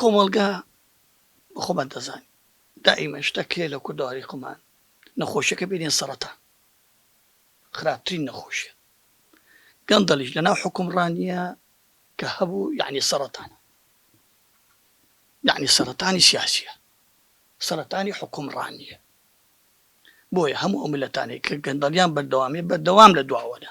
کۆمەڵگا بە خۆمان دەزانین دائیمەن شتەک هەیە لە کوردەواری خۆمان نەخۆشیەکە بینێ سەڕەتان خراپترین نەخۆشیە گەندەڵیش لە ناو حکومڕانیە کە هەبوو یعنی سەڕەتانە یعنی سەڕەتانی سیاسیە سەڕەتانی حکومڕانیە بۆیە هەموو ئەو ملەتانەی کە گەندەڵیان بەردەوامیە بەردەوام لە دواوەنە.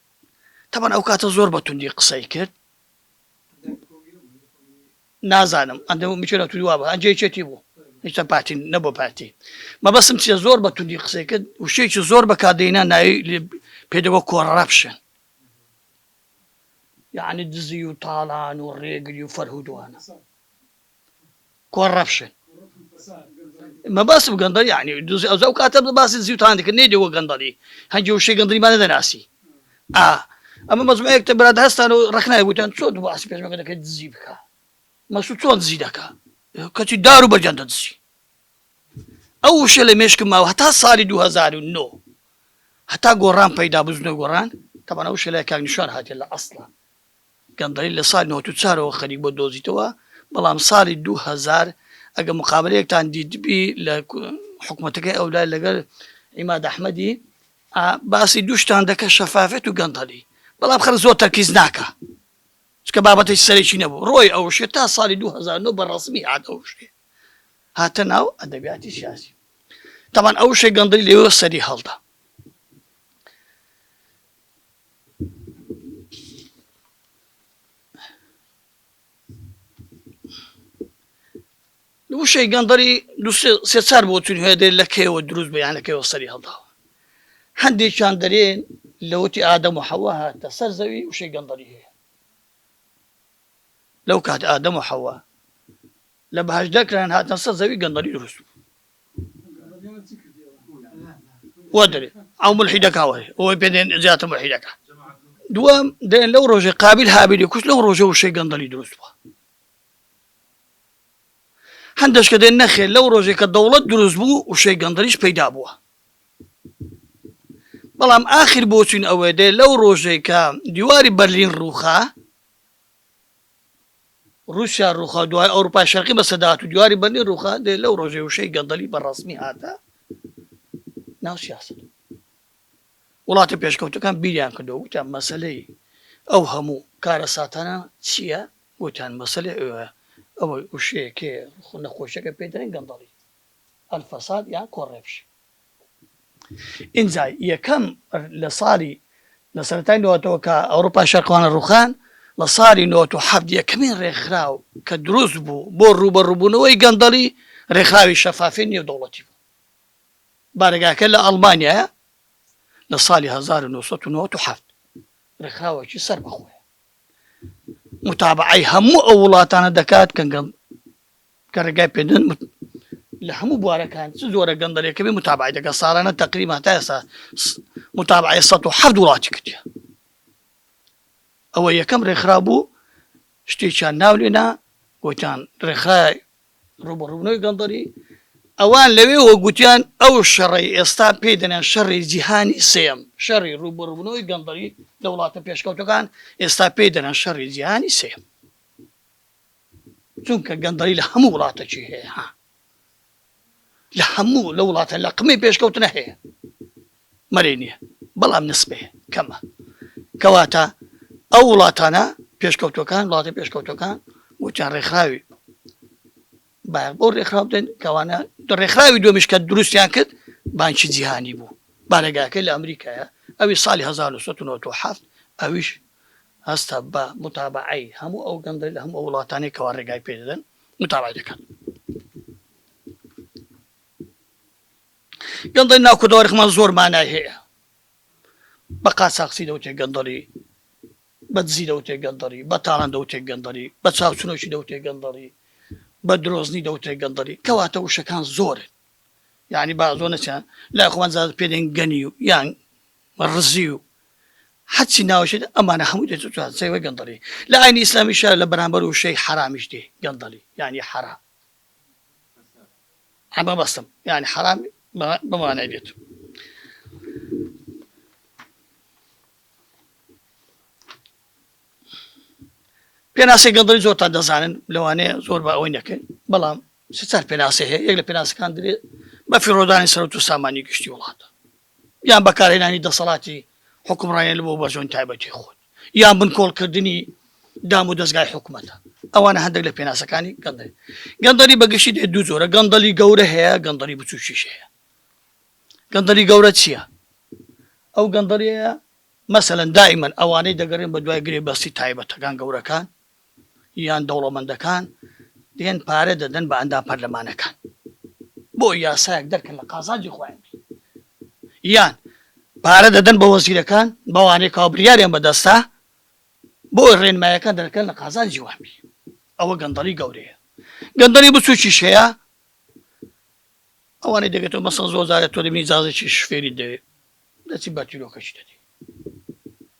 تەبەن ئەو کاتە زۆر بە توندی قسەی کرد نازانم ئەندە میچێرە توی وابە ئەنجێ چێتی بوو هیچە پارتی نەبوو پارتی مەبەسم چیە زۆر بە توندی قسەی کرد وشێکی زۆر بەکدەینا ناوی پێدەوە کۆڕەپشن یعنی دزی و تاڵان و ڕێگری و فەرهودوانە کۆڕەپشن مەبەستم گەندەڵی یعنی دزی ئەوجا ئەو کاتە باسی دزی و تاندی کرد نەیدەوە گەندەڵی هەندی وشەی گەندەڵیمان نەدەناسی ئا ئەمە مەزمەیەک تە براد هەستان و ڕەخنای وتیان چۆن دوو باسی پێشمەرگە دەکەی دزی بکا مەسعود چۆن دزی دەکا کەچی دار و بەرجان دەدزی ئەو وشە لە مێشکم ماوە هەتا ساڵی 2009 هەتا گۆڕان پەیدا بزنە گۆڕان تەبەنە وشە لای کاک نیشان هاتیە لە ئەسڵە گەندەڵی لە ساڵی نەوەد و چوار ەوە خەریک بووە دۆزیتەوە، بەڵام ساڵی دوو هەزار ئەگەر مقابەلەیەکتان دیتبی لە حکومەتەکەی ئەو لای لەگەل عیماد ئەحمەدی ئا باسی دوو شتان دەکە شەفافێت و گەندەڵی بەڵام خەلک زۆر تەرکیز ناکا چکە بابەتەی سەرەکی نەبوو ڕۆی ئەوشێ تا ساڵی دوو هەزار و نۆ بە ڕەسمی هات ئەوشێ هاتە ناو ئەدەبیاتی سیاسی تەبان ئەوشێ گەندەلی لەوێوە سەری هەڵدا وشەی گەندەڵی سێ چار بۆ تون هەیە دەێت لە کێوە دروست بە یان لە کێوە سەری هەڵداوە هەندێکیان دەرێن لەوتی ئادەم و حەوە هاتە سەر زەوی وشەی گەندەڵی هەیە لەو کات ئادەم و حەوە لە بەهەشدا کرایان هاتنە سەر زەوی گەندەڵی دروست بوو وا دەرێ ئەو ملحیدەکە وەێ ئەوەی پێێن زیاتر ملحیدەکە دووەم دێن لەو ڕۆژێ قابل هابیلی کوش لەو ڕۆژە وشەی گەندەڵی دروست بووە هەندێک کە دێن نەخێ لەو ڕۆژێک کە دەوڵەت دروست بوو وشەی گەندەڵیش پەیدا بووە بەڵام ئاخر بۆچین ئەوەێ دێ لەو ڕۆژێک کە دیواری بەرلین ڕووخە ڕوسیا ڕوخا و دوای ئەوروپای شەرقی بە سەدات و دیواری بەرنی ڕوخا دێ لەو ڕۆژێ وشەی گەندەلی بە ڕسمی هاتە ناو سیاست وڵاتە پێشکەوتەکان بیریان کردو وتیان مەسلەی ئەو هەموو کارە ساتانە چییە وتیان مەسلەی ئەوە ئەوەی وشەیەکێ خو نەخۆشیەکە پێدرێن گەندەڵی ئەلفەساد یان کۆڕێپش ئینجا یەکەم لە ساڵی لە سەرەتای نەوەتەوە کە ئەوروپای شەرقەوانە ڕووخان، لە ساڵی نەوەت و حەفت یەکەمین ڕێکخراو کە دروست بوو بۆ ڕووبەڕووبوونەوەی گەندەڵی، ڕێکخراوی شەفافیی نێودەوڵەتی بوو. بارەگاکەی لە ئەڵمانیایە، لە ساڵی هەزار و نۆ سەد و نەوەت و حەفت. ڕێکخراوێکی سەربەخۆیە. موتابەعەی هەموو ئەو وڵاتانە دەکات کە کە ڕێگای پێدەن لە هەموو بوارەکان چ زۆرە گەندەلێکە بێ متابعی دەکە ساڵانە تقریبا تا ئێستا متابعی 1970 وڵاتی کردە ئەوە یەکەم ڕێکخرا بوو شتێکیان ناو لێنا گوتان ڕێکخرای ڕوبڕوونەوەی گەندەری ئەوان لەوێ وەگوتیان ئەو شەڕی ئێستا پێی دەنێن شەڕی جیهانی سێم شەڕی ڕوبڕوونەوەی گەندەری لە وڵاتە پێشکەوتەکان ئێستا پێی دەنە شەڕی جیهانی سێم چونکە گەندەڵی لە هەموو وڵاتەکی هەیە ها لە هەموو لە وڵاتە لە قمەی پێشکەوتنە هەیە مەرەی نییە بەڵام نسبێ کەمە کەواتە ئەو وڵاتانە پێشکەوتەکان وڵاتی پێشکەوتەکان وتیان ڕێکخراوی باەر بۆ ڕێکخراو بدەن کەوانە ڕێکخراوی دومیش کە دروستیان کرد بانکی جیهانی بوو بارەگاکە لە ئەمریکایە ئەوی ساڵی 1970 ئەویش هەستە بە موتابەعەی هەموو ئەو گەندەی لە هەموو ئەو وڵاتانەی کەوا ڕێگای پێ دەدەن موتابەعەی دەکات. گەندەی ناو کوردەوارخمان زۆر مانای هەیە بە قاچاقچی دەوتێ گەندەڵی بە دزی دەوتێ گەندەڵی بە تاڵان دەوتێ گەندەڵی بە چاوچنۆکی دەوتێ گەندەڵی بە درۆزنی دەوتێ گەندەڵی کەواتە وشەکان زۆرن یعنی بازۆ نەچیان لای خۆمان زیاد پێدەین گەنی و یان و ڕزی و هەرچی ناوەشێ دێ ئەمانە هەمووی دێتە توان سەیربکە گەندەڵی لە ئاینی ئیسلامیشا لە بەرامبەر وشەی حەرامیش دێ گەندەڵی یانی حەرام ئەمە بەستم یانی حەرام بمانای دێت پێناسی گەندڵی زۆر تا دەزانن لەوانەیە زۆر بە ئەوەی نەکەن بەڵام سچار پێناسی هەیە یەک لە پێناسەکان درێت بە فیڕۆدانی سەرەوت و سامانی گشتی وڵاتە یان بەکارهێنانی دەسەڵاتی حوکمڕانیت بۆ بەرژەوەنی تایبەتی خۆت، یان بنکۆڵکردنی دام و دەزگای حکومەتە. ئەوانە هەندێک لە پێناسەکانی گەندەلی. گەندەلی بە گشتی دەی دوو جۆرە، گەندەلی گەورە هەیە، گەندەلی بچووکیش هەیە. گەندەلی گەورە چییە؟ ئەو گەندەلییە مەسەلەن دائیمەن ئەوانەی دەگەڕێن بە دوای گرێبەستی تایبەتەکان، گەورەکان، یان دەوڵەمەندەکان دێن پارە دەدەن بە ئەندام پەرلەمانەکان بۆ یاسایەک دەرکەن لە قازانجی خۆیان بی یان پارە دەدەن بە وەزیرەکان بەوانەی کاو بریاریان بەدەستا بۆ ڕێنمایەکان دەرکەن لە قازانجی وان بی ئەوە گەندەڵی گەورەیە گەندەڵی بچووکیش هەیە ئەوانەی دەگێتەوە مەسەڵ زۆر زارە تۆ دەبینی جازێکی شفێری دەوێت دەچی بەتیرۆکەشی دەدی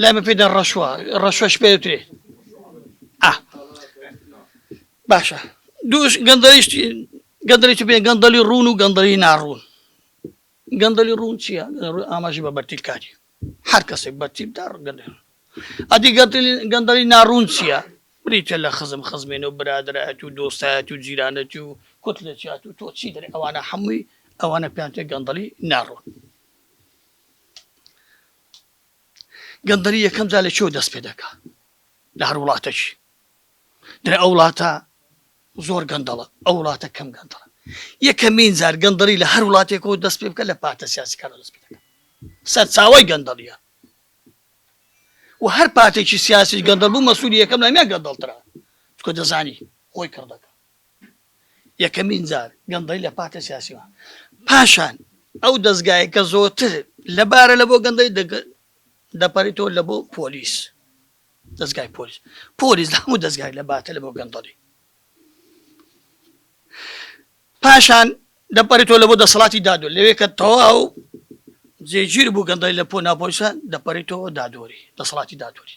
لای من پێدا ڕەشوە ڕەشوەش پێ دەوترێ ئا باشە دووش گەندەریش گەندەری بێ گەندەلی ڕوون و گەندەری ناڕوون گەندەلی ڕوون چییە ڕووی ئاماژی بە بەرتیلکاری هەر کەسێک بەرتیل دا ڕگەندێ ئەدی گەندەلی ناڕوون چییە بریتە لە خزم خزمێنە و برادایەت و دۆستایەت و جیرانەتی و کوت لە چات و تۆ چی دەێ ئەوانە حەمووی ئەوانە پێیان تێ گەندەلی ناڕوون گەندەڵی یەکەم جا لە چۆ دەست پێ دەکا لە هەر وڵاتەش درە ئەو وڵاتە زۆر گەندەڵە ئەو وڵاتە کەم گەندەڵە یەکەمین زار گەندەڵی لە هەر وڵاتێکەوە دەست پێ بکە لە پارتە سیاسەکان دەست پێ دەکە سەرچاوی گەندەڵیە و هەر پارتێکی سیاسی گەندەڵ بوو مەسوولی یەکەم لامیان گەندەڵترا چکە دەزانی خۆی کڕ دەکە یەکەمین جار گەندەڵی لە پارتە سیاسیەوە پاشان ئەو دەستگایە کە زۆرتر لە بارە لە بۆ گەندەی دەگەن دەپەریتەوە لە بۆ پۆلیس دەستگای پۆلیس پۆلیس لە هەموو دەستگای لە باتە لە بۆ گەندەڵی پاشان دەپەریتەوە لە بۆ دەسەڵاتی دادو لەوێ کە تەواو جێگیر بوو گەندەی لە پۆ ناپۆلیسە دەپەریتەوە دادۆری دەسەڵاتی دادۆری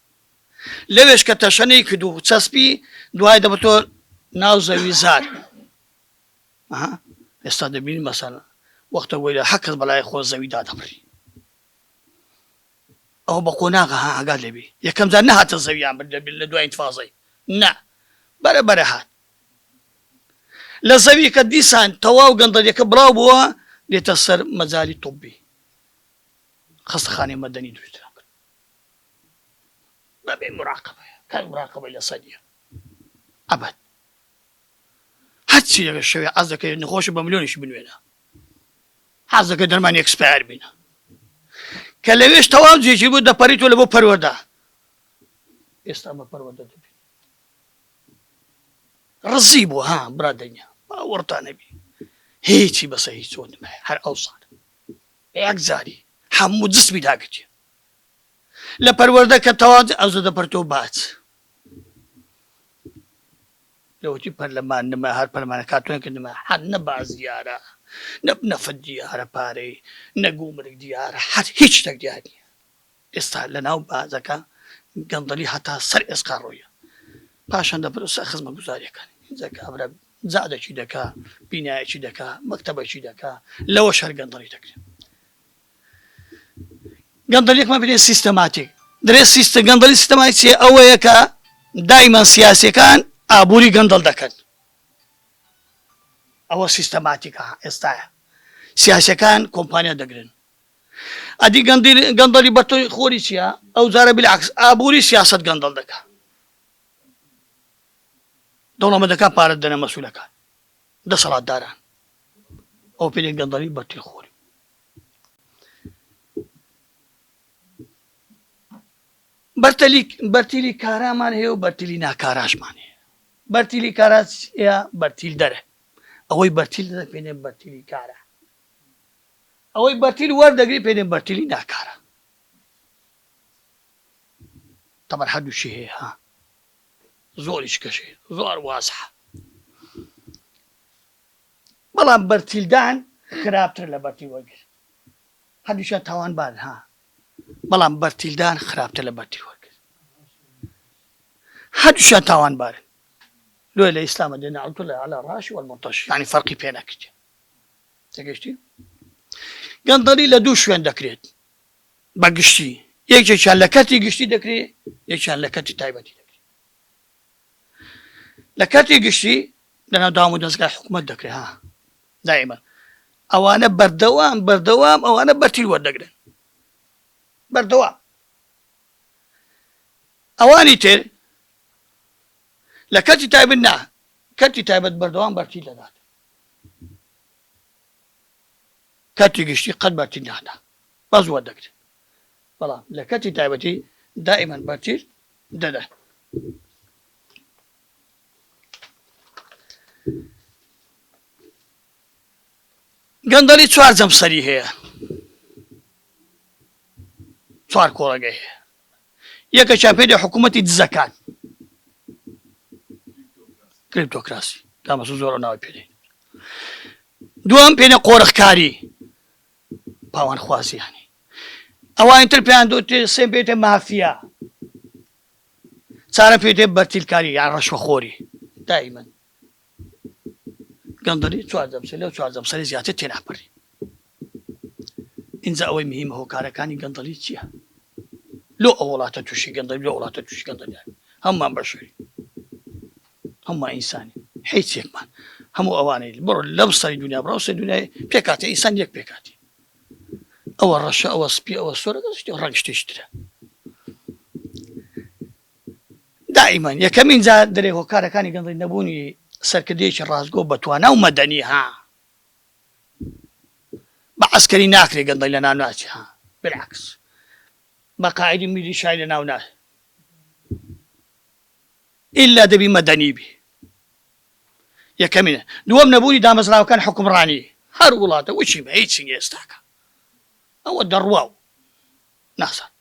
لەوێش کە تەشەنەی کرد و چەسپی دوای دەبتۆ ناو زەوی زار ئێستا دەبین مەسەن وەختە وەی لە حەکەت بەلای خۆ زەوی دادەبڕی ئەو بە قۆناغە ها ئاگات لەبی یەکەم جار نەهاتە زەویان بر دەبێت لە دوای تفازەی نا بەرە بەرە هات لە زەوی کە دیسان تەواو گەندەلەکە بڵاو بووە دێتە سەر مەجای توبی خستخانی مەدەنی دووترا نەبێ مراقەبەیە کاک مراقەبەی لەسەر نیە ئەبەد هەرچی لەگە شەوێ عەز دەکەێت نەخۆشە بە ملیۆنیش بنوێنە حەز دەکە دەرمان ئەکسپار بینە کە لەوێش تەواو جێژی بوو دەپەریت و لە بۆ پەروەدا ئێستا بە پەروەدە دەبین ڕزی بوو ها برا دەنیا باوەڕتان نەبی هیچی بەسە هیچ چۆن هەر ئەو ساڵ یەک زاری هەموو جسمی داگرێ لە پەروەردە کە تەواوت ئەو زەدە پەرتۆ باچ لەوەتی پەرلەمان نمە هەر پەرمانە کاتۆن کردمە حەن نە باز دیارە نە نەفت دیارە پارەی نەگو مرگ دیارە حەت هیچ تەک دیار نیە ئێستا لە ناو بازەکە گەندەلی هەتا سەر ئێسقا ڕۆیە پاشان دەپرسە خزمە گوزاریەکان جەکە ئەبرە زادەکی دەکا بینایەکی دەکا مەکتتەبەکی دەکا لەوە شەر گەندەڵی دەکرێت گەندەڵیەک مەبینێ سیستەماتیک درێ سیستە گەندەڵی سیستەمای چێ ئەوەیە کە دایمان سیاسەکان ئابووری گەندەڵ دەکەن ئەوە سیستەماتیکە ئێستاە سیاسەکان کۆمپانیا دەگرن ئەدی گەندەڵی بە تۆی خۆری چییە ئەو جارە بلاکس ئابووری سیاست گەندەڵ دەکە دەوڵەمەدەکە پارە دەنە مەسوولەکان دەسەڵاتداران ئەو پێ گەندەڵی بە تۆی خۆری بەرتیلی کارامان هەیە و بەرتیلی ناکاراشمان هەیە بەرتیلی کارا بەرتیل دەرە ئەوەی بەرتیل دەدە پێێن بەرتیلی کارە ئەوەی بەرتیل وەردەگری پێێن بەرتیلی ناکارە تەمەەر هەردووشی هەیە ها زۆریش کەشێ زۆر وازە بەڵام بەرتیلدان خراپترە لە بەرتی وەرگر هەردووکیان تاوانبارن ها بەڵام بەرتیلدان خراپتر لە بەرتی وەرگر هەردووکیان تاوانبارن لۆی لە ئیسلامە دێنە عەڵتو لە عەلا ڕاش وەلمۆتەش یعنی فەرقی پێ نەکرد تێگەشتی گەندەڵی لە دوو شوێن دەکرێت بە گشتی یەکێکیان لە کەرتی گشتی دەکرێت یەکیان لە کەرتی تایبەتی دەکرێت لە کەرتی گشتی لەناو دام و دەستگای حکوومەت دەکرێت ها دائیمەن ئەوانە بەردەوام بەردەوام ئەوانە بەرتیل وەردەگرن بەردەوام ئەوانی تر لە کەتی تایبن نا کەتی تایبەت بەردەوام بەرتی دەدات کەتی گشتی قەت بەرتی نادا بەس وەردەگرن بەڵام لە کەتی تایبەتی دائیمەن بەرتیل دەدات. گەندەڵی چوار جەمسەری هەیە چوار کۆڵەگەی هەیە یەکە چاپێدە حکوومەتی دزەکان کریپتۆکراسی دامەسە زۆر ناوی پێێ دوم پێێنە قۆرخکاری پاوانخوازیانی ئەوانی تر پێیان دەوترێت سێم پێی دێت مافیا چارەم پێی دێت بەرتیلکاری یان ڕەشوەخۆری دایمەن گەندەڵی چوار جەمسەر لەو چوار جەمسەری زیاتر تێناپەری ئینجا ئەوەی مهمە هۆکارەکانی گەندەڵی چییە لۆ ئەو وڵاتە تووشی گەندەڵی لۆ وڵاتە تووشی گەندەڵیان هەممان بەشەری هەموومان ئینسانین حیچ یەکمان هەموو ئەوانەی بڕۆ لەم سەری دنیا بڕاو سەر دنیای پێکاتی ئینسان یەک پێکاتی ئەوە ڕەشە ئەوە سپی ئەوە سۆرە ڕەنگ شتێشترە دائیمان یەکەمین جا دەرێ هۆکارەکانی گەندڵی نەبوونی سەرکردەیەکی ڕاستگۆ بەتوانا و مەدەنی ها بە عسکەری ناکرێ گەندڵی لە ناو ناچی ها بلاکس بە قاعدی میلی شای لە ناو ناش ئیلا دەبی مەدەنی بی یەکەمینە دووەم نەبوونی دامەزراوەکان حوکمڕانی هەر وڵاتە وچی بە هیچی نیە ئێستاکە ئەوە دەڕوا و نازان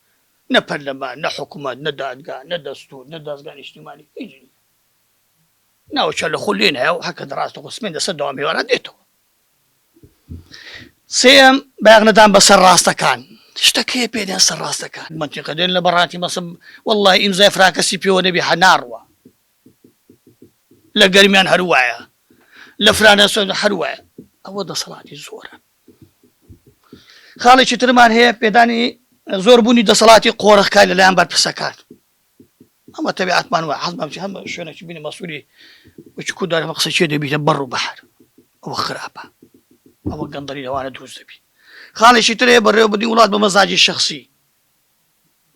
نە پەرلەمان نە حکومەت نە دادگا نە دەستور نە دەزگا نیشتیمانی هیچ نیە ناوچە لە خۆ لێ نایە و هەر کە دەڕاستەوخۆ سمێن دەسە دەوام هێواران دێتەوە سێیەم، بایەخ نەدان بە سەر ڕاستەکان. شتە کێ پێدێن سەر ڕاستەکان. مەنتیقە دێن لە بەڕاتی مەسە وەڵڵاهی ئیمزای فراکەسی پێوە نەبی حە ناڕوا. لە گەرمیان هەر وایە. لە فرانەسۆن هەر وایە. ئەوە دەسەڵاتی زۆرە. خاڵێکی ترمان هەیە پێدانی زۆربوونی دەسەڵاتی قۆرخکای لەلایەن بەرپرسەکان. ئەمە تەبیعەتمان وایە حەزمان بچێ هەم شوێنێکی بینە مەسوولی وەکی کورد دارێ قسەی چێ دەبیتە بەڕ و بەحر ئەوە خراپە ئەوە گەندەڵی لەوانە دروست دەبی خاڵێکی تر هەیە بەڕێوە بدی وڵات بە مەزاجی شخصی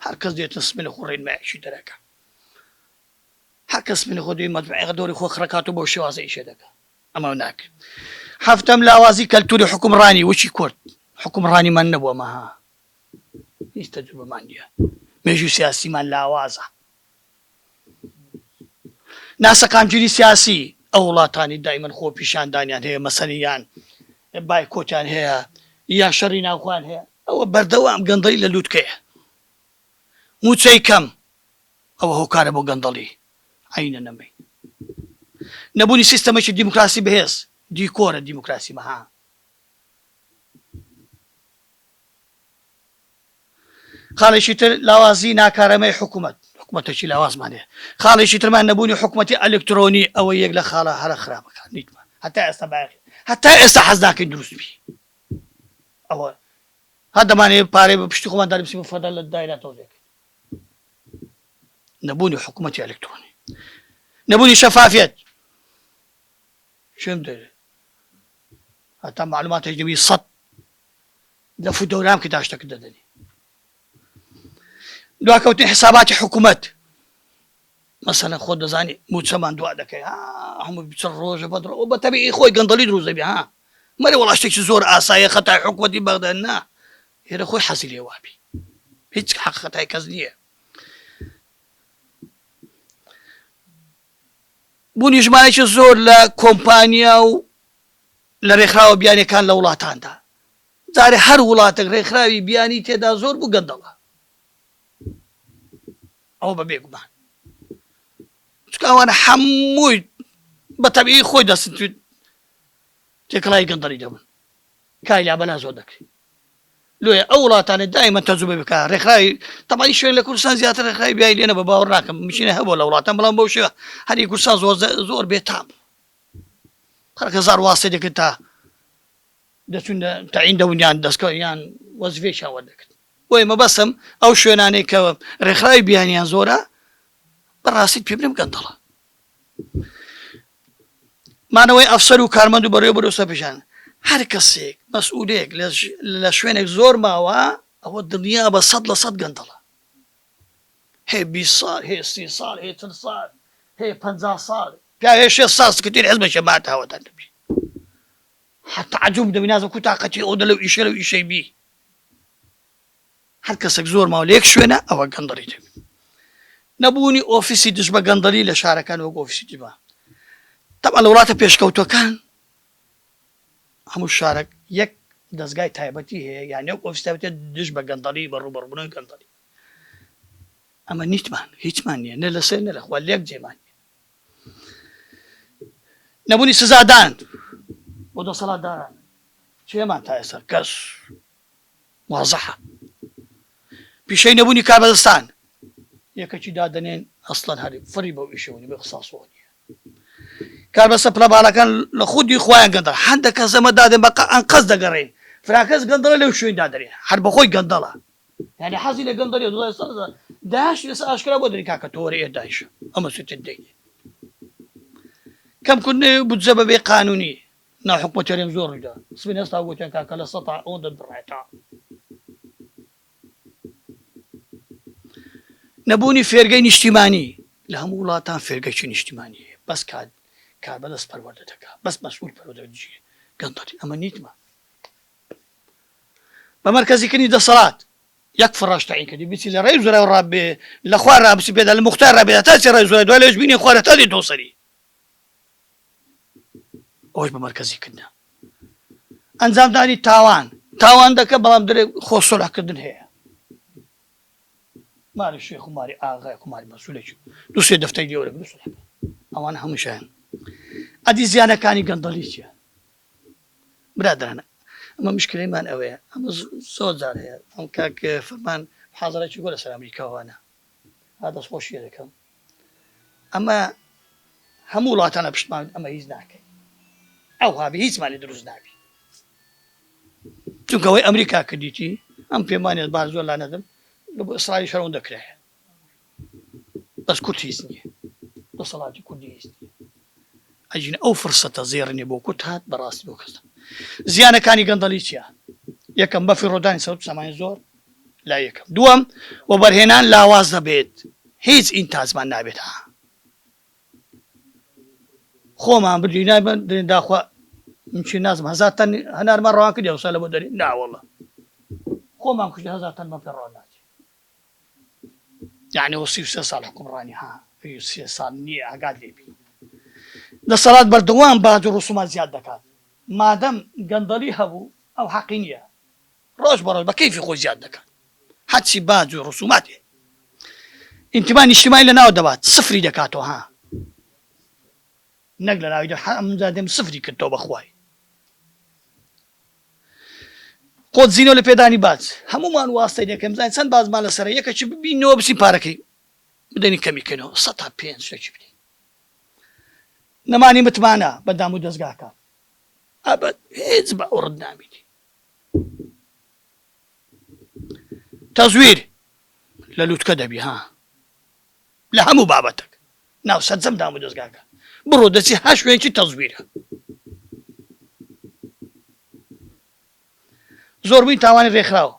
هەر کەس دێتە سمێنە خۆ ڕێنمایەکی دەرەکە هەر کەس من خۆ دوی مەدمعێغ دەوری خۆ خڕکات و بۆ شێوازە ئیشێ دەکە ئەمە ناکرێت هەفتەم لاوازی کەلتوری حکومڕانی وچی کورد حکومڕانی من نەبووە مەها هیچ تەجروبەمان نیە مێژوی سیاسیمان لاوازە ناسەقامگیری سیاسی ئەو وڵاتانی دایمەن خۆپیشاندانیان هەیە مەسەنی یان بایکۆتیان هەیە یا شەڕی ناوخۆیان هەیە ئەوە بەردەوام گەندەڵی لە لوتکەیە موچەی کەم ئەوە هۆکارە بۆ گەندەڵی عەینە نەمەی نەبونی سیستەمەکی دیموکراسی بەهێز دیکۆرە دیموکراسی مەها خاڵێکی تر لاوازی ناکارەمەی حکومەت حکومەتەکی لاوازمان هەیە خاڵێکی ترمان نەبوونی حکومەتی ئەلکترۆنی ئەوە یەک لە خاڵە هەرە خراپەکان نیتمان هەتا ئێستا باقی هەتا ئێستا حەز ناکەین دروست بی ئەوە هە دەمانێت پارەی بە پشتی خۆمان دەربسی بە فەدا لە دایرا تۆزێکن نەبوونی حکوومەتی ئەلکترۆنی نەبوونی شەفافێت چم دەێت هەتا معلوماتێک دەبی سەد لف و دوران کە داشتەکت دەدەنێ دواکەوتنی حساباتی حکومەت مەسەلەن خۆت دەزانی موچەمان دوا دەکەی ها هەموو بچە ڕۆژە بە درۆ بە تەبیعی خۆی گەندەڵی دروست دەبێ ها مەرە وەڵا شتێکی زۆر ئاسایە خەتای حکومەتی بەغدا نا هێرە خۆی حەزی لێ وابی هیچ حەق خەتای کەس نییە بوونی ژمارەێکی زۆر لە کۆمپانیا و لە رێکخراوە بیانیەکان لە وڵاتاندا جارێ هەر وڵاتەک رێکخراوی بیانی تێدا زۆر بوو گەندەڵە ئەوە بە بێگومان چکاوانە حەمووی بە تەبیی خۆی دەستویت تێکڵای گەندەڵی دەبن کای لا بەلا زۆر دەکرێت لۆیە ئەو وڵاتانە دایمە تەجوبە بکە ڕێکخراوی تەمای شوێن لە کوردستان زیاتر ڕێکخراوی بیای لێنە بە باوەڕ ناکەم مشینە هەبوو لە وڵاتان بەڵام بەو شێوە هەری کورسان زۆر زۆر بێتام هەر هەزار واستەی دەکرد تا دەچون تەعین دەبون یان دەستکەوت یان وەزفەیەکیان وەردەگرت بۆیە مەبەستم ئەو شوێنانەی کە ڕێکخراوی بیانیان زۆرە بەڕاستیت پێ بنم گەندەڵە مانەوەی ئەفسەر و کارمەند و بەڕێ بەرۆسە بژان هەر کەسێک مەسئولێک لە شوێنێک زۆر ماوە ئەوە دڵنیا بە سەد لە سەد گەندەڵە هێ بیست ساڵ هێ سی ساڵ هێ چل ساڵ هێ پەنجا ساڵ پیاو هێ شێست ساڵ سکرتێری حزبەکێ بات ئاوەدان دەبی هەر تەعجوب دەبی نازم کو تاقەتی ئەو دە لەو ئیشە لەو ئیشەی بی هەر کەسەک زۆر ماوە لە یەک شوێنە ئەوە گەندەڵی دەبی نەبوونی ئۆفیسی دژ بە گەندەڵی لە شارەکان وەک ئۆفیسی دیبا تەبا لە وڵاتە پێشکەوتوەکان هەموو شارەک یەک دەستگای تایبەتی هەیە یان یەک ئۆفیس تایبەتە دژ بە گەندەڵی بە ڕوبەڕبوونەوەی گەندەڵی ئەمە نیتمان هیچمان نییە نە لە سێ نە لەخوا لێک جێمان نەبوونی سزادان بۆ دەسەڵاتداران چێمان تا ئێستا کەس وازەحە پیشەی نەبوونی کابەدەستان یەکەکی دادنێن ئەسڵەن هەری فری بەو ئیشەوەنی بە خساسۆنی کاربەسە پلە باڵەکان لە خودی خۆیان گەندە هەندە کەس ئەمە دادێن بەقە ئەنقەز دەگەڕین فراکەس گەندەڵە لەو شوێن دادرێن هەر بەخۆی گەندەڵە یانی حەزی لە گەندەڵیە دوو هەزار و سێزدە داعش لەسەر ئاشکرا بۆ دەنێن کاکە تۆ وەرە ئێ داعشە ئەو مەسوولتت دەگرێ کەمکردنەوەی بودجە بەبێ قانونی ناو حکومەت هەرێم زۆر ڕوویدا سبین هەستا گوتیان کاکە لە سەتا ئەو دەبڕێتەوە نەبوونی فێرگەی نیشتیمانی لە هەموو وڵاتان فێرگەکی نیشتیمانی هەیە بەس کات کار بەدەست پەروەردە دەکات بەس مەسئول پەروەدەجیێ گەندەڵی ئەمە نیتمە بە مەرکەزی کردنی دەسەڵات یەک فڕاش تەعین کردی بیچی لە ڕێی زورای ڕا بێ لە خوا ڕا بچی پێدا لە موختار ڕا بێ هەتا چی ڕای زورای دوای لەوێش بینێ خوا لە تا دێتەوە سەری ئەوەش بە مەرکەزی کردنە ئەنجامدانی تاوان تاوان دەکە بەڵام درێ خۆ سۆراکردن هەیە ماری شێخ و ماری ئاغای کوماری مەسولێکی دو سێ دەفتەی گەورە بسرەکە ئەوان هەمووشیان ئەدی زیانەکانی گەندەڵی چیە برادەران ئەمە مشکلەی مان ئەوەیە ئەمە زۆر جار هەیە ئەم کاک فەرمان حاضرێکی گۆ لەسەر ئەمریکاوانە ها دەست خۆشی دەکەم ئەمە هەموو وڵاتانە پشتمان ئەمە هیچ ناکەین ئەو هابی هیچمانی دروست نابی چونکەوەی ئەمریکا کردیتی ئەم پێمانێت بار زۆر لا نەدەم لە بۆ ئیسرائیل شەرەوە دەکرێت بەس کورد هیچ نیە دەسەڵاتی کوردی هیچ نیە ئەجین ئەو فرسەتە زێڕنێ بۆ کورد هات بەڕاستی بۆ کەس زیانەکانی گەندەڵی چیە یەکەم بە فیڕۆدانی سەوت سامانی زۆر لا یەکەم دووەم و بەرهێنان لاواز دەبێت هیچ ئینتاجمان نابێت ها خۆمان بردی نایبن درێن داخوا منچی نازم هەزار تەن هەنارمان ڕوان کردی ئەوسا لە بۆ دەری ناوەڵە خۆمان کوشت هەزار تەنمان پێ ڕۆ ناچێت یەعنی ئەوە سی و سێ ساڵ حوکمڕانی ها سی و سێ ساڵ نییە ئاگات لێ بی دەسەڵات بەردەوام باج و ڕسومات زیاد دەکات مادەم گەندەڵی هەبوو ئەو حەقی نییە ڕۆژ بە ڕۆژ بە کەیفی خۆی زیاد دەکات حەچی باج و ڕسوماتێ ئینتیما نیشتیمانی لە ناو دەبات سفری دەکاتەوە ها نەک لە ناوی دەم سفری کردەوە بەخوای قۆت زینۆ لە پێدانی باج هەموومان واستەی دەکەین بزانین چەند باجمان لەسەرە یەکەکی ببینەوە بچین پارەکەی بدەین کەمی کەینەوە سەد تا پێنج شتێکی بدەین نەمانی متمانە بە دام و دەستگاکان ئەبەد هیچ بە ئەوڕت نامینی تەزویر لە لووتکە دەبی ها لە هەموو بابەتەک ناو سەرجەم دامودەزگاکان بڕۆ دەچی هەر شوێنکی تەزویرە زۆربوی تاوانی رێکخراو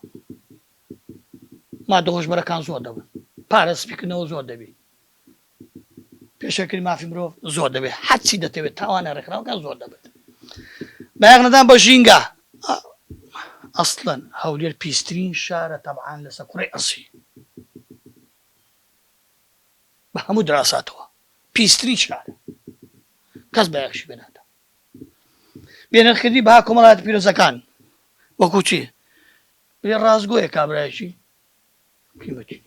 مادە هۆشبەرەکان زۆر دەبن پارە سپیکردنەوە زۆر دەبی پێشەکری مافی مرۆڤ زۆر دەبێت حەچی دەتەوێت تاوانە رێکخراوەکان زۆر دەبێت بەیاغ نەدان بە ژینگە ئەسڵەن هەولێر پیسترین شارە تەبعاان لەسەر کوڕی ئەسی بە هەموو دراساتەوە پیسترین شار کەس بایەخشی بێ نادا بێنرخکردی بەها کۆمەڵاتی پیرۆزەکان وەکو چی بێ ڕاستگۆیە کابراایشی قیمەتی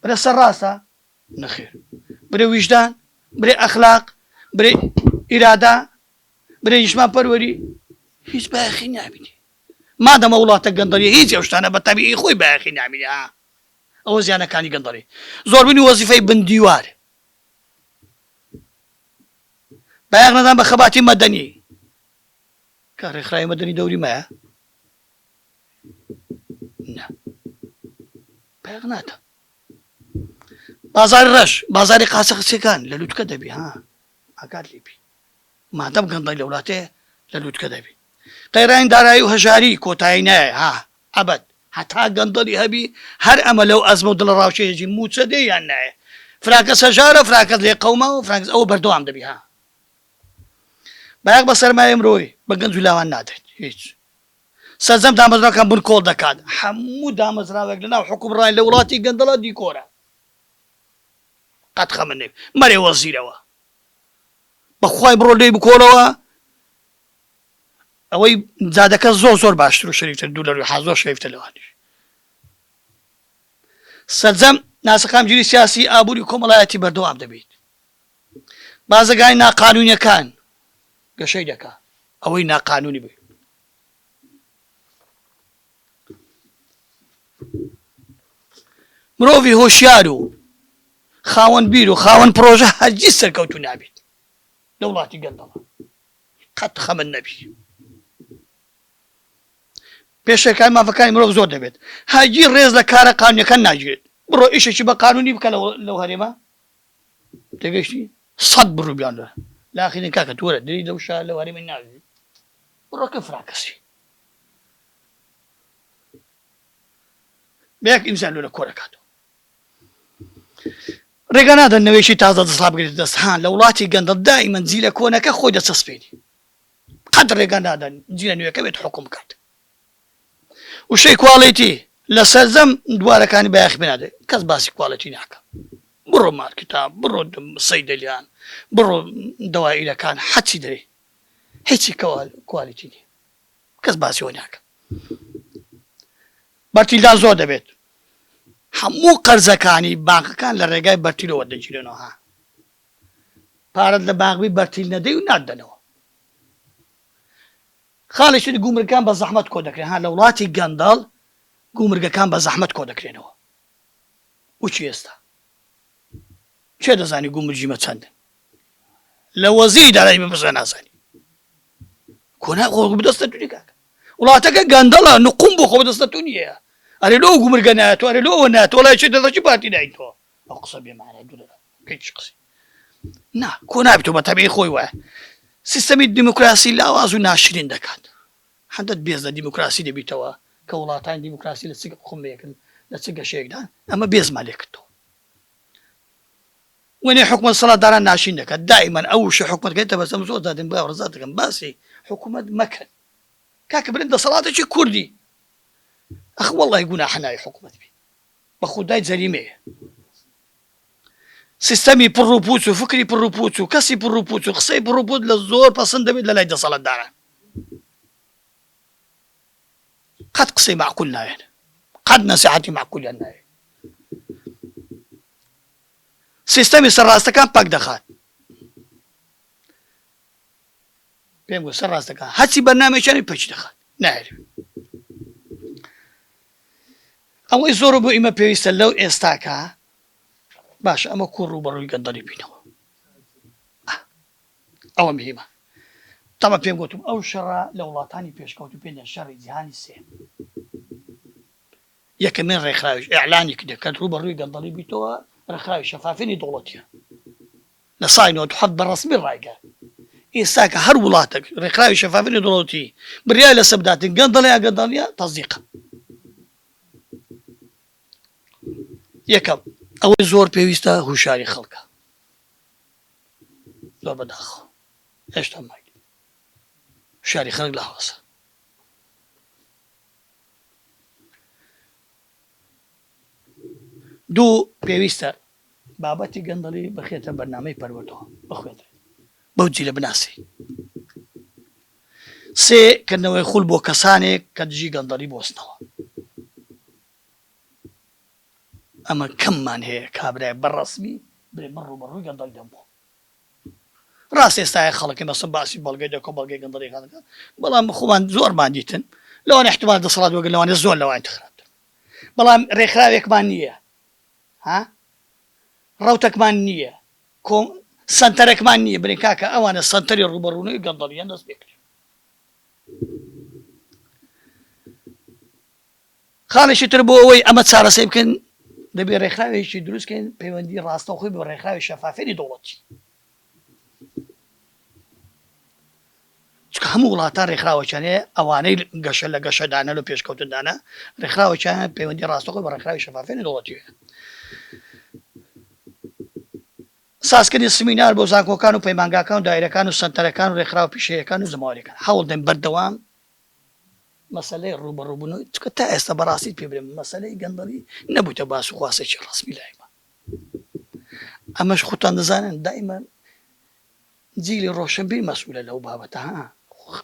برە سەر ڕاستە نەخێر برە ویژدان برێ ئەخلاق برێ ئیرادا برێ یشمان پەروەری هیچ بایەخی نابیتی مادەمە وڵاتە گەندەڵی هیچ ئەوشتانە بە تەبیی خۆی بایەخی نامینە ئەوە زیانەکانی گەندەڵی زۆربونی وەزیفەی بن دیوار بایەخ نەدان بە خەباتی مەدەنی کە ڕێکخراوی مەدەنی دەوری مایە بایەخ ناتە بازاری ڕەش بازاری قاسە قسەکان لە لوتکە دەبی ها ئاکات لیبی مادەم گەندەی لە وڵاتێ لە لوتکە دەبی قەیرانی دارایی و هەژاری کۆتایی نایە ها ئەبەت هەتا گەندەڵی هەبی هەر ئەمە لەو ئەزمە و دڵە ڕاوکێ دەژی مووچە دێ یان نایێ فراکەس هەژارە فراکەس لێ قەوماوە فراکەس ئەوە بەردەوام دەبی ها بایەخ بە سەرمایەی مرۆی بە گەنج و لاوان نادەین هیچ سەرجەم دامەزراوەکان بن کۆڵ دەکات هەموو دامەزراوێک لە ناو حکومڕای لە وڵاتی گەندەڵە دیکۆرە قەت خەمە نەوی مەرێ وەزیرەوە بەخوای بڕۆ لێی بکۆڵەوە ئەوەی جادەکە زۆر زۆر باشتر و شەریفتر دوو لە روی حاز زۆر شەریفتە لەوانیش سەرجەم ناسەقام جوری سیاسی ئابووری کۆمەڵایەتی بەردەوام دەبیت بازەگای ناقانونیەکان گەشەی دەکا ئەوەی ناقانونی بێت مرۆڤی هۆشیار و خاوەن بیر و خاوەن پرۆژە هەرگیز سەرکەوتو نابیت لە وڵاتی گەندەڵە قەت خەمت نەبی. پێشێلکاری مافەکانی مرۆڤ زۆر دەبێت، هەرگیز ڕێز لە کارە قانونیەکان ناگیرێت، بڕۆ ئیشێکی بە قانونی بکە لەو هەرێمە تێگەیشتی؟ سەد بڕو بیانرا لە ئاخیرین کاکە تو وەرە دری لەو شار لەو هەرێمە ناگری بڕۆ کە فراکەسی بەیەک ئینسان لۆ لە کۆرەکاتەوە. ڕێگا نادەن نەوەیەکی تازە دەسەڵات بگرێتە دەست، ها لە وڵاتی گەندەڵ دائیمەن جیلە کۆنەکە خۆی دەچەسپێنی قەت ڕێگا نادەن جیلە نوێکە بێت حوکم بکات. وشەی کواڵیتی لە سەرجەم دوارەکانی بایەخی پێ نادرێت، کەس باسی کواڵیتی ناکا بڕۆ مارکتا بڕۆ سەیدەلیان بڕۆ دەوائیرەکان حەچی دەرێ هیچی کوالیتی نیە کەس باسی ئەوە ناکا. بەرتیلدا زۆر دەبێت هەموو قەرزەکانی بانقەکان لە ڕێگای بەرتیلەوە وەردەگیرێنەوە ها پارەت لە بانق بی بەرتیل نەدەی و ناتدەنەوە خاڵی شت گومرگەکان بە زەحمەت کۆ دەکرێن ها لە وڵاتی گەندەڵ گومرگەکان بە زەحمەت کۆ دەکرێنەوە وچی ئێستا کێ دەزانی گومرجی مە چەندن لە وەزیری دارایی بپرسە نازانی کۆنا خۆڵ بدەستە دوری کاکە وڵاتەکە گەندەڵە نقوم بۆ خۆ بەدەستە تو نیە ئەرێ لۆ ئەو گومرگە نایە تۆ ئەرێ لۆ ئەوە نایە تۆ وەڵا چێتە دەچی پارتی داین تۆ ئەو قسە بێ مانای دورە بێ چی قسەی نا کۆ نابێت تۆ بە تەبیعی خۆی وایە سیستەمی دیموکراسی لاواز و ناشرین دەکات هەندت بێز لە دیموکراسی دەبیتەوە کە وڵاتانی دیموکراسی لە چ قومێکن لە چ گەشەیەکدان ئەمە بێزمان لێ کردەوە وەنێ حکومەت سەڵات داران ناشرین دەکات دائیمەن ئەو وشە حکومەت کە تەبەسەم زۆر دادن بۆ ڕزا دەکەم باسی حکومەت مەکەن کاکە برن دەسەڵاتێکی کوردی ئەخ وەڵی گوناحە ناوی حکومەت بی بە خودای جەریمەیە سیستەمی پڕ و پوچ و فکری پڕ و پوچ و کەسی پڕ و پوچ و قسەی پڕ و پوت لە زۆر پەسەند دەبێت لە لای دەسەڵات داران قەت قسەی معقول نایەن قەت نەسیحەتی معقولیان نایە سیستەمی سەر ڕاستەکان پەک دەخات. پێم گوت سەر ڕاستەکان هەرچی بەرنامەیەکیانی پەکی دەخات نایەوێ. ئەوەی زۆر بۆ ئیمە پێویستە لەو ئێستاکە باش ئەمە کوڕ و بەڕووی گەندەڵی بینەوە ئەوە مهمە تەمە پێم گوتم ئەو شەڕە لە وڵاتانی پێشکەوت و پێ شەڕی جیهانی سێ یەکەمین ڕێکخراویش ئیعلانی کردە کە ڕووبەڕووی گەندەڵی بویتەوە ڕێکخراوی شەفافینی دەوڵەتیە لە ساڵی نەوەد و حەفت بە ڕەسمی ڕایگەیان ئیستاکە هەر وڵاتەک ڕێکخراوی شەفافینی دەوڵەتی بریای لە سەر بداتن گەندەڵی یا گەندەڵیە تەزیقە یەکەم ئەوەی زۆر پێویستە هوشاری خەڵکە زۆر بەداخەوە هێشتا ماگی شاری خەڵک لە هەڵەسە دوو، پێویستە بابەتی گەندەڵی بخرێتە بەرنامەی پەروەردەوە، بخوێندرێت، بەو جیلە بناسی. سێ، کردنەوەی خوول بۆ کەسانێک کە دژی گەندەڵی بوەستنەوە. ئەمە کەممان هەیە کابرای بە ڕەسمی بڵێ من ڕووبەڕووی گەندەڵی دەبمەوە. ڕاستە ئێستایە خەڵک نەسم باسی بەڵگەی دە کۆمەڵگەی گەندەڵی خان دەکات، بەڵام خۆمان زۆرمان دیتن، لەوانەیە ئیحتیمال دەسەڵات وەک لەوانەیە زۆر لەوانی تر خراپتر بێت، بەڵام ڕێکخراوێکمان نییە ها ڕەوتەکمان نییە کۆ سەنتەرەکمان نییە، بەڵێ کاکە ئەوانە سەنتەری ڕووبەڕوونەوەی گەندەڵییەن دەست پێ بکەن. خاڵێکی تر بۆ ئەوەی ئەمە چارەسەی بکەین دەبێت ڕێکخراوێکی دروستکەین پەیوەندی ڕاستەوخۆی بۆ ڕێکخراوی شەفافێنی دەوڵەتی چکە هەموو وڵاتان ڕێکخراوەچانێ ئەوانەی گەشە لە گەشەدانە لە پێشکەوتندانە ڕێکخراوەچان پەیوەندی ڕاستەخۆی بە ڕێکخراوی شەفافێنی دەوڵەتی سازکردنی سمینار بۆ زانکۆکان و پەیمانگاکان و دایرەکان و سنتەرەکان و ڕێکخراو پیشەیەکان و زماوەەکان هەوڵدەن بەردەوام مەسەلەی ڕووبەڕووبوون و چونکە تا ئێستا بە ڕاستیت پێ برێم مەسەلەی گەندەڵی نەبوویتە باس و خواسێکی ڕەسمی لای من ئەمەش خوتان دەزانن دائیمە جیلی ڕۆشنبیر مەسئولە لەو بابەتە ها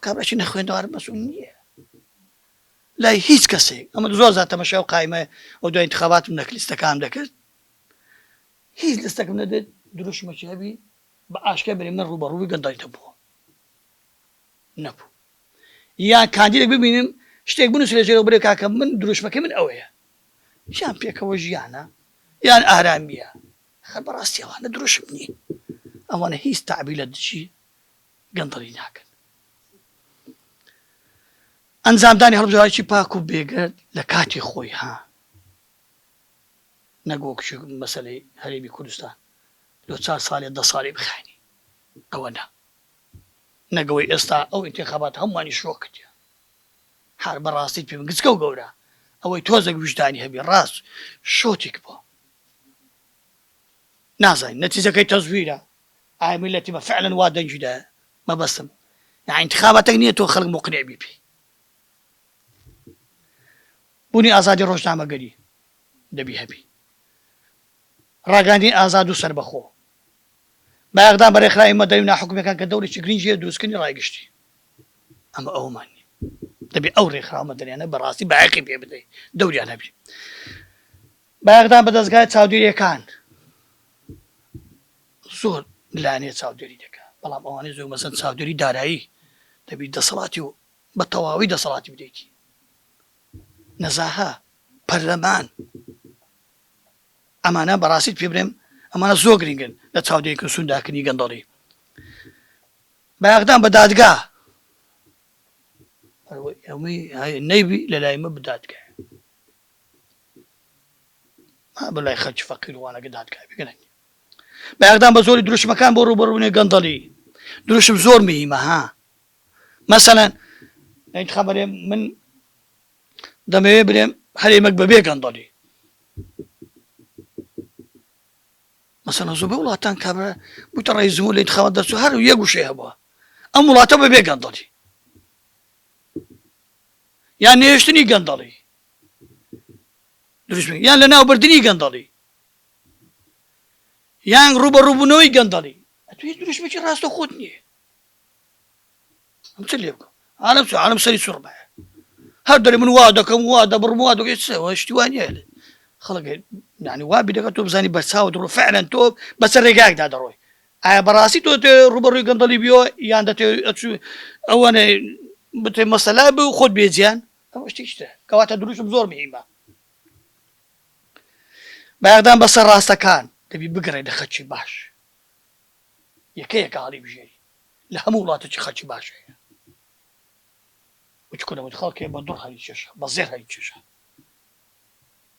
کابراکی نەخوێندەوار مەسئول نییە لای هیچ کەسێک ئەمە زۆر زیاتر تەمەشای و قایمە و دوای انتخاباتم دەکرد لیستەکان دەکرد هیچ لستەکەم نەبێت دروشمەکی هەبی بە ئاشکرا بری من ڕووبەڕووی گەندەڵیتە بووە نەبوو یان کاندیدێک ببینن شتێک بنووسن لە ژێرەوە بڵێ کاکە من دروشمەکەی من ئەوەیە یان پێکەوە ژیانە یان ئارامییە خەر بەڕاستی ئەوانە دروشم نین ئەوانە هیچ تابی لە دژی گەندەڵی ناکەن ئەنجامدانی هەڵبژاوی پاک و بێگەرد لە کاتی خۆی ها نەگۆک مەسلەی هەرێمی کوردستان لۆ چار ساڵێ دە ساڵی بخانی ئەوە نا نەگەوەی ئێستا ئەو ئینتیخابات هەموانی شۆک کردیە هەر بەڕاستیت پێم گچکەو گەورە ئەوەی تۆزەک ویژدانی هەبی ڕاست شۆتیک بۆ نازانین نەتیجەکەی تەزویرە ئایا میلەتی بە فعلەن وا دەنگی دا مەبەستم نا ئینتیخاباتەک نییە تۆ خەڵک مقنع بی پێی بوونی ئازادی ڕۆژنامەگەری دەبی هەبی ڕاگەاندنی ئازاد و سەربەخۆ بە ئاغدان بە رێکخراوی مەدەنی و ناحکومیەکان کە دەورێکی گرنگی هەیە دروستکردنی رای گشتی ئەمە ئەوەمان نیە دەبێ ئەو رێکخراوە مەدەنیانە بە راستی بایەقی پێ بدەین دەوریان هەبێ بە ئاغدان بە دەزگای چاودێریەکان زۆر لانێ چاودێری دەکە بەڵام ئەوانەی زۆر مەسەن چاودێری دارایی دەبی دەسەڵاتی و بە تەواوی دەسەڵاتی بدەیتی نەزاها پەرلەمان ئەمانە بەڕاستیت پێ برێم ئەمانە زۆر گرینگن لە چاودێری کردن سوون داکردنی گەندەڵی بایەخدان بە دادگا نەیبی لە لای من بدادگای بە لای خەرچ فەقیروانەکە دادگای بگەن بایەخدان بە زۆری دروشمەکان بۆ ڕوبەڕوونێ گەندەڵی دروشم زۆر مهمە ها مەسەەن انتخابەێ من دەمەوێ برێم هەرێمەک بەبێ گەندەڵی. مەسەلەن زۆربەی وڵاتان کابرا بوویتە ڕەئیس جمهور لە ئینتخابات دەرچوو هەر یەک وشەی هەبووە ئەم وڵاتە بەبێ گەندەڵی یان نەهێشتنی گەندەڵی دروست بێت یان لەناوبردنی گەندەڵی یان ڕووبەڕووبوونەوەی گەندەڵی ئەتوێ دروشمێکی ڕاستەخۆت نییە من چ لێ بکەم عالم چ عالم سەری سوڕ بە هەر دەێ من وا دەکەم وا دەبڕم وا دەێت شتی وانە لێ خەڵک نانی وا بیرەکە تۆ بزانی بەرچاو دڕۆ فعلەن تۆ بەسە ڕێگاکدا دەڕۆی ئایا بەڕاستی تۆ ڕوبەڕووی گەندەڵی بیۆ یان دەێ ئەوەنە بتێ مەسەلا بێ و خۆت بێجیان ئەوە شتیشتە کەواتە دروشم زۆر مهمە بەغدان بەسەر ڕاستەکان دەبی بگەڕێ دەخەچی باش یەکەیەکە هەڵیبژێری لە هەموو وڵاتەکی خەلکی باش هەیە وچ کورە وت خەڵکێ بە دوڕ هەلی کێشا بە زێر هەلی کێشا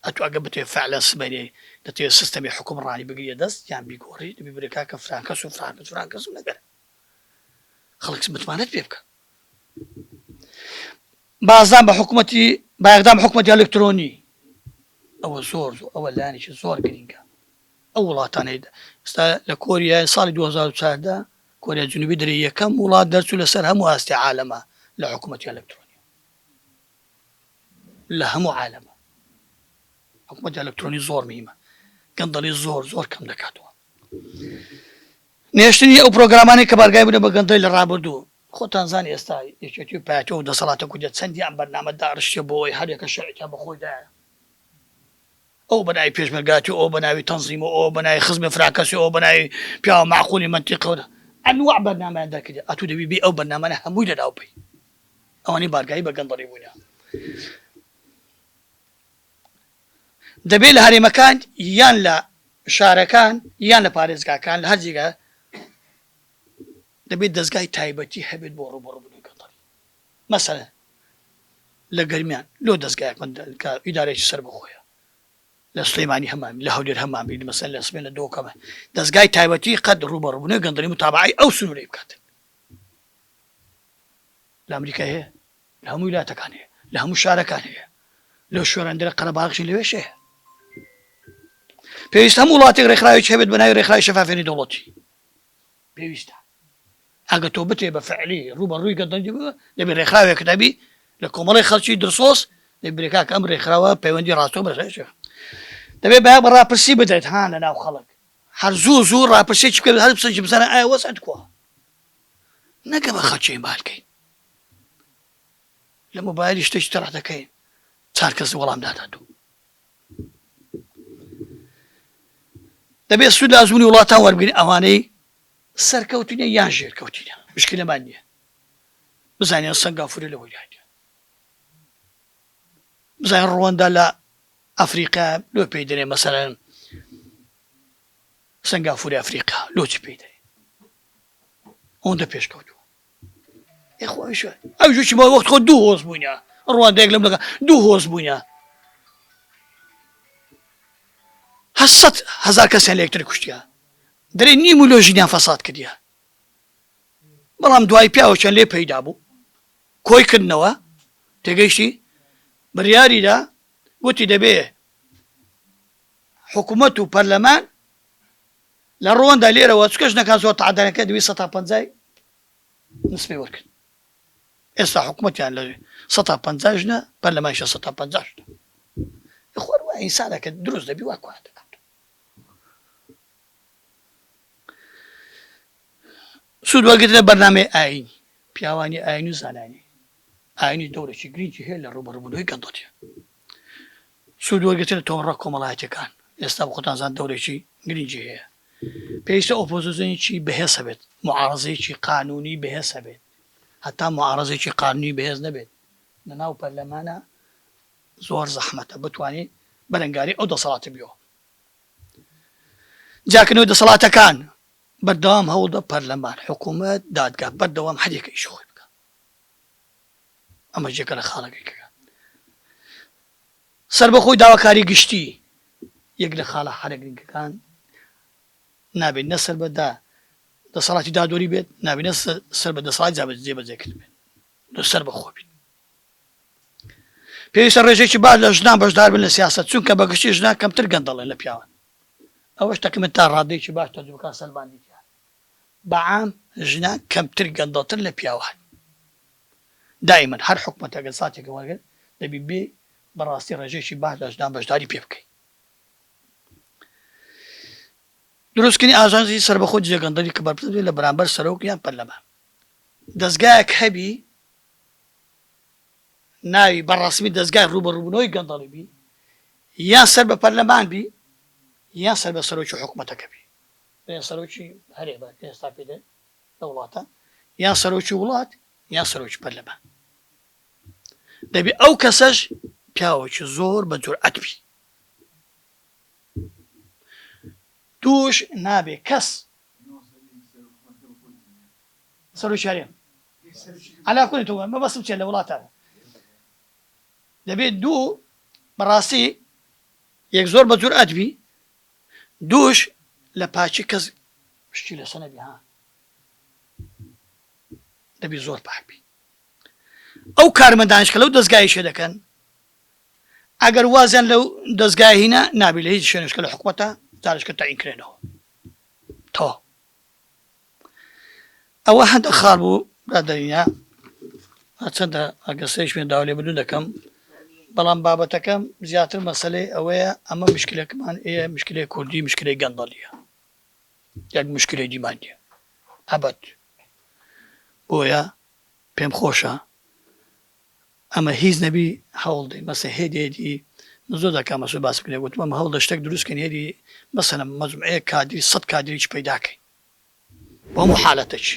ئەتو ئەگە بتێ فعلا سمەرێ دەتێ سستەمی حکوم ڕانی بگریە دەست یان بیگۆڕی دەبی برێ کاکە فرانکەس و فرانکەس فرانکەسم نەگەر خەڵکس متمانەت پێ بکە بازدان بە حکوومەتی بایەخدام حکوومەتی ئەلکترۆنی ئەوە زۆر زۆر ئەوە لایەنێکی زۆر گرینگە ئەو وڵاتانەی ئێستا لە کۆریای ساڵی دوو هەزار و چواردە کۆریای جنوبی درێ یەکەم وڵات دەرچوو لە سەر هەموو ئاستی عالەما لە حکومەتی ئەلکترۆنیا لە هەموو عالەما حکومەتی ئەلکترۆنی زۆر میمە گەندەڵی زۆر زۆر کەم دەکاتەوە نێشتنی ئەو پرۆگرامانی کە بارگای بوونە بە گەندەی لە ڕابردوو خۆتان زان ئێستا یەکێتی و پاتۆ و دەسەڵاتە کوردە چەندی ئەم بەرنامە داڕشتە بۆەوەی هەرێکە شەعێکە بەخۆیدایە ئەو بە ناوی پێشمەرگاتی و ئەو بە ناوی تەنزیم و ئەوە بە ناوی خزمی فراکەسی و ئەوە بە ناوی پیاوە مەعقولی مەنتیقی و ئەنواع بەرنامەیان دەرکردی ئەتوو دەبی بێی ئەو بەرنامانە هەمووی لەناو بەی ئەوانەی بارگایی بە گەندەڵی بوونیان دەبێ لە هەرێمەکان یان لە شارەکان یان لە پارێزگاکان لە هەر جێگا دەبێت دەستگای تایبەتی هەبێت بۆ ڕوبەڕوبوونی گەندەڵی مەسەلەن لە گەرمیان لۆ دەزگایەک من کە ئیدارەیەکی سەربەخۆیە لە سلیمانی هەمان لە هەولێر هەمان بی مەسەن لە سمێنە دۆکەمە دەزگای تایبەتی قەد ڕوبەڕبوونە گەندەڵی متابعی ئەو سنوورەی بکاتن لە ئەمریکای هەیە لە هەموو ویلاتەکان هەیە لە هەموو شارەکان هەیە لەو شوێنەندرە قەرەباغشی لەوێش هەیە پێویست هەم وڵاتی ڕێکخراوی هەبێت بەناوی ڕێکخراوی شەفافێنی دەوڵەتی پێویستە ئەگە تۆ بتێ بە فعلی ڕوو بە ڕووی گەندەڵی بووە دەبێ ڕێکخراوێک دەبی لە کۆمەڵی خەڵکی درسۆس دەبرێکا کەم ڕێکخراوە پەیوەندی ڕاستۆ بەرێش دەبێ بە بە ڕاپرسی بدەیت ها لە ناو خەڵک هەر زوو زوو ڕاپرسی چ بکەێت هەر بسەجی بزانە ئایا وەس ئەتکووە نەگە بە خەچەی بالکەین لە مۆبایلی شتێکی تەڕ دەکەین چار کەس وەڵام دادات و دەبێت سوود لە ئەزموونی وڵاتان وەربگرین ئەوانەی سەرکەوتوونیان یان ژێرکەوتوونە مشکلەمان نییە بزانین سەنگافورە لە وەیرانە بزانین ڕوەندا لە ئەفریقا لۆ پێی دەێ مەسەرەن سنگافوری ئەفریقا لۆچی پێی دەێ ئەوەندە پێشکەوتووە یاخۆ ئەویش ئەویش وچی بە وەخت خۆ دوو هۆز بووینە ڕوانندەیەک لەم لەگە دوو هۆز بووینە هەسەد هەزار کەسیان لە یەکتر کوشتیا دەرێ نیم و لۆژینیان فەساد کردیا بەڵام دوای پیاوەچەند لێ پەیدا بوو کۆی کردنەوە تێگەیشتی بڕیاریدا وتی دەبێ حکوومەت و پەرلەمان لە ڕواندا لێرەوە چونکە ژنەکان زۆر تەعەدا دەکەن دەبێت سەتا پەنجای نسبەی وەرگن ئێستا حکوومەتیان لە سەتا پەنجا ژنە پەرلەمانشە سەتا پەنجا ژنە خۆر وە ئینسانەکە دروست دەبی وا کوان دەکات سوود وەرگرتنە بەرنمەی ئاین پیاوانی ئاین و زانانی ئاینی دەورەی گرنگی هەیە لە ڕوبەڕبوونەوەی گەندەڵیە سوود وەرگرتن لە تۆڕە کۆمەڵایەتیەکان ئێستا بە خۆتان زان دەورێکی گرنگی هەیە پێویستە ئۆپۆزۆزنیی بەهێز هەبێت معاڕزەیەکی قانونی بەهێز هەبێت هەتا معاڕزێکی قانونی بەهێز نەبێت لەناو پەرلەمانە زۆر زەحمەتە بتوانین بەرەنگاری ئەو دەسەڵاتە بیەوە جاکنەوە دەسەڵاتەکان بەردەوام هەوڵدە پەرلەمان حکوومەت دادگا بەردەوام هەرێکە ئیش خۆی ئەمەش جگە لە خاڵە گرنگەکان سەربەخۆی داواکاری گشتی یەک لە خاڵە حالە گرنگەکان نابێت نە سەر بەدا دەسەڵاتی دادوەری بێت نابێنە سەر بە دەسەڵات جابێت جێ بەجێکرد بێت لە سەر بەخۆ بێت پێویستە ڕێژێکی باش لە ژنان بەشدار بن لە سیاست چونکە بەگشتی ژنان کەمتر گەندەڵێن لە پیاوان ئەوەش تەکمن تا ڕادێکی باش تەجوکان سەلماندی بەعام ژنان کەمتر گەندەڵتر لە پیاوان دایمەن هەر حکومەتەک گەر ساتێکە وەرگرت دەبی بێی بەڕاستی ڕێژەیەکی باش لە ژنان بەشداری پێ بکەی. دروستکردنی ئاژانسی سەربەخۆ دژە گەندەڵی کە بەرپرس بێت لە بەرامبەر سەرۆک یان پەرلەمان. دەزگایەک هەبی ناوی بە ڕەسمی دەزگای ڕووبەڕووبوونەوەی گەندەڵی بی یان سەر بە پەرلەمان بی یان سەر بە سەرۆکی حکومەتەکە بی. بڵێن سەرۆکی هەرێمە کە ئێستا پێی دەن لە وڵاتە یان سەرۆکی وڵات یان سەرۆکی پەرلەمان دەبێ ئەو کەسەش پیاوەکی زۆر بە جورئەت بی دووش نابێ کەس سەرۆکی هەرێم علا کولی تۆ مەبەستم چێ لە وڵاتانە دەبێت دوو بەڕاستی یەک زۆر بە جورئەت بی دووش لە پاکی کەس شتی لەسە نەبی ها دەبی زۆر پاک بی ئەو کارمەندانش کە لەو دەستگای شێ دەکەن ئەگەر وازیان لەو دەستگای هینا نابی لە هیچ شوێنشکە لە حکومەتە دارشکە تاینکرێنەوە تۆ ئەوە هەندە خاڵ بوو برادەرینە هەرچەندە ئەگەر سەری شوێنداو لێ بدون دەکەم بەڵام بابەتەکەم زیاتر مەسلەی ئەوەیە ئەمە مشکلەکەمان ئێ مشکلی کوردی مشکلی گەندەڵیە یەک مشکلی دیماندە ئەبەت بۆیە پێم خۆشە ئەمە هیچ نەبی هەوڵ دەی مەسە هێدی هێدی من زۆر جار کاک مەسرور باسی کردوە گوتم ئەمە هەوڵ دە شتەک دروست کەین هێدی مەسەلەن مەجموعەیەک کادری سەد کادریی پەیدا کەین بۆ هەموو حالەتەکی.